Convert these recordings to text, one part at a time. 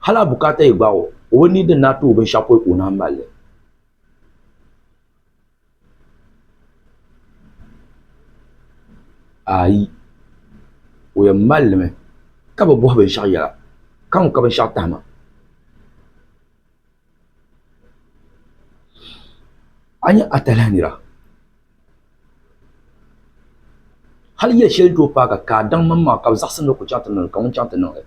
Hali a bukaata yi gbaag o, o bi nia din daa ti o binshɛɣu pɔi ka o naan mal li. Aai! O yɛn mal limi ka bi bɔhi binshɛɣu yɛla, Kaŋ ka binshɛɣu tahi ma. A nyɛ atalihi nira, hali yɛli shɛli n-tooi paai ka ka a daŋ mani maa ka bɛ zaɣisim ni ku chaŋ ti niŋ li, ka ŋun chaŋ ti niŋ li.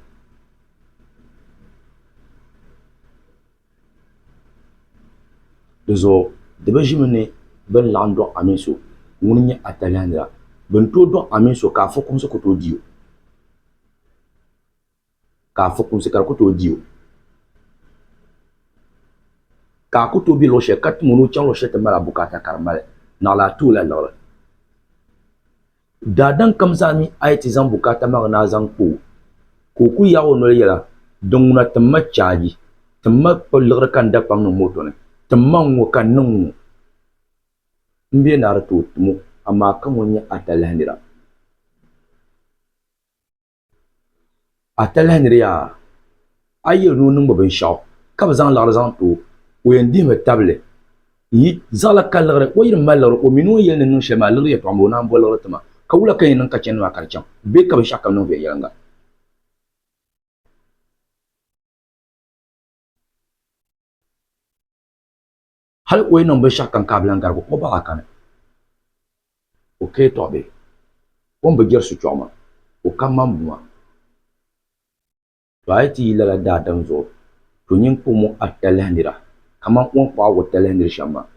Dinzuɣu di bi ʒimi ni bɛ ni laɣim dɔɣi a mini so ŋun nyɛ atalihi nira. Bɛ ni tooi dɔɣi a mini so ka a fukumsi ku tooi di o. ka a fukumsi ka di ku tooi di o, ka a ku tooi be luɣ shɛli ka tim o ni o chaŋ luɣ shɛli ti mali a bukaata ka di mali naɣila, a tooi lahi liɣiri daadam kam zaa mi a yi ti zaŋ bukaata maa na zaŋ kpa o. Ka o ku yaag o noli yɛla, Din ŋuna tim ma chaaji, tim ma kpa liɣiri ka n da kpaŋ niŋ moto ni, tim ma n ŋɔ ka n niŋ ŋɔ. M bia naa di tooi tim o, amaa ka ŋɔ n-nyɛ a talahi nira. a talahi ni di yaa a yi yɛli ni o niŋ bi binshaɣu ka bi zaŋ liɣiri zaŋ too o yɛn dihimi tabili zaɣala ka liɣiri o yi di mali liɣiri o mini o ni yɛli ni niŋ shɛli maa liɣiri yɛltɔɣa n bɔŋɔ o naan bo liɣiri tima ka wula ka yɛn niŋ ka chɛndi maa ka di chaŋ bee ka binshaɣu kam niŋ viɛnyɛlinga Hal o yi niŋ binshɛɣu kam ka a bi lan garigi o baɣa kani, o ka yi tɔɣi bee? O ni bi jɛri suchɔɣu maa, o ka mani buŋa. Tɔ a yi ti yi lala daadam zuɣu, to nyin kpuɣ mɔŋ a talahi nira kaman o ni kpuɣ a watalahi nir shɛm maa.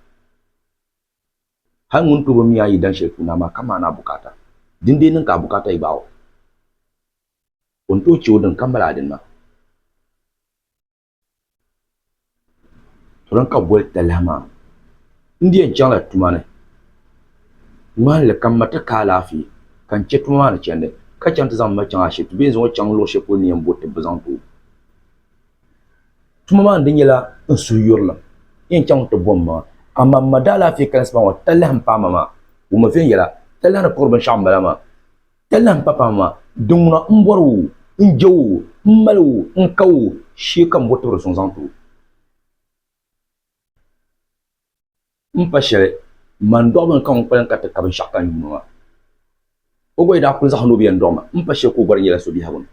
Hal ŋun to bi mi a yi dan shɛli puuni a maa, ka maani a bukaata, dindee niŋ ka a bukaata yi gbaag o. O ni tooi chɛ o din ka mali a dini maa. Salo ka bi boli talahi maa n di yɛn chaŋ la tuma ni n ŋmani li ka n ma ti ka alaafee ka n chɛ tuma maa ni chɛndi ka chɛŋ ti zaŋ n ma chaŋ ashibiti bee n zaŋ o chaŋ luɣi shɛli polo ni yɛn bori ti bi zaŋ ti o tuma maa ni di nyɛla n suhu yurilim n yɛn chaŋ mi ti bo n maŋa amaa n ma daalaafee kalisi pam ŋɔ talahi n paai ma maa wuhimi viɛnyɛla talahi ni kuri binshɛɣu n bala maa Ka lahi pa paɣa maa, di ŋuna n bɔri o, n je o, n mali o, n ka o, shee ka m bo tibiri suŋ zaŋ ti o. M pa shɛli, man dɔɣi bini ka ŋun kpalim ka ti ka binshɛɣu ka n yuuni maa. O gba yi daa kuli zaɣisi ni o bɛ yɛn dɔɣi ma, m pa shɛli ka o gba di nyɛla so biɛhigu ni.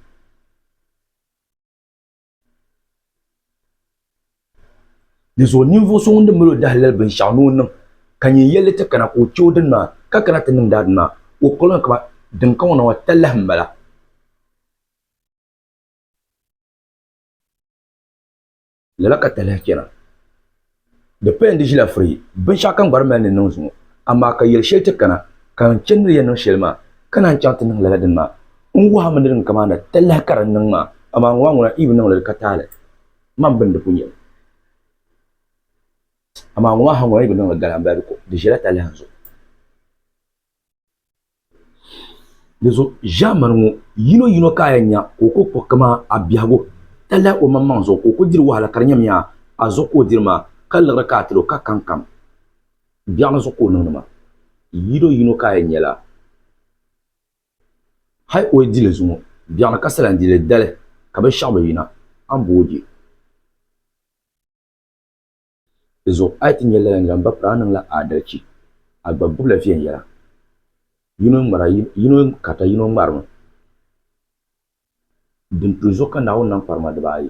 Di zuɣu ninvuɣu so ŋun di mali o dahilali binshɛɣu ni o niŋ ka nyɛ n yɛlli ti kana ka o chɛ o dini maa, ka kana ti niŋdi a dini maa, o kɔliŋ kaba din ka ŋɔ na ŋɔ talahi m-bala. Lala ka talahi chana. Di paya n-di ʒila firi binshɛɣu ka n gba di mali ni n niŋ zuŋɔ, amaa ka yɛli shɛli ti kana ka n chani ni di yɛn niŋ shɛli maa, ka naan chaŋ ti niŋ lala dini maa. N wuhimi ni din kaman na talahi ka di niŋ maa, amaa ŋɔ maa ŋuna Iiv niŋ li di ka taali man bini di pun yɛli, amaa ŋɔ maa ha ŋuna yi bi niŋ li gala m balibu ko, di ʒila talahi n zuɣu. Dinzuɣu ʒaamani ŋɔ yino yino ka a yɛn nya ka o ku kpuɣi kaman a biɛhigu ka lahi omaŋmaŋ zuɣu ka o ku diri wahala ka di nyamiya a zuɣu ka o diri maa ka liɣiri ka a ti lo ka kankam biɛɣuni zuɣu ka o niŋdi maa. Yino yino ka a yɛn nyala hali o yi di li zuŋɔ biɛɣuni ka sala n-di li dali ka binshɛɣu bi yina a ni bo o je. Di zuɣu a yi ti nya lala nira m-ba pari a niŋla aadalichi, a gba gbibila viɛnyɛla. Yino ŋmara yino karita yino ŋmarimi. Dini pili zuɣu ka Naawuni niŋ kparima dibaayi.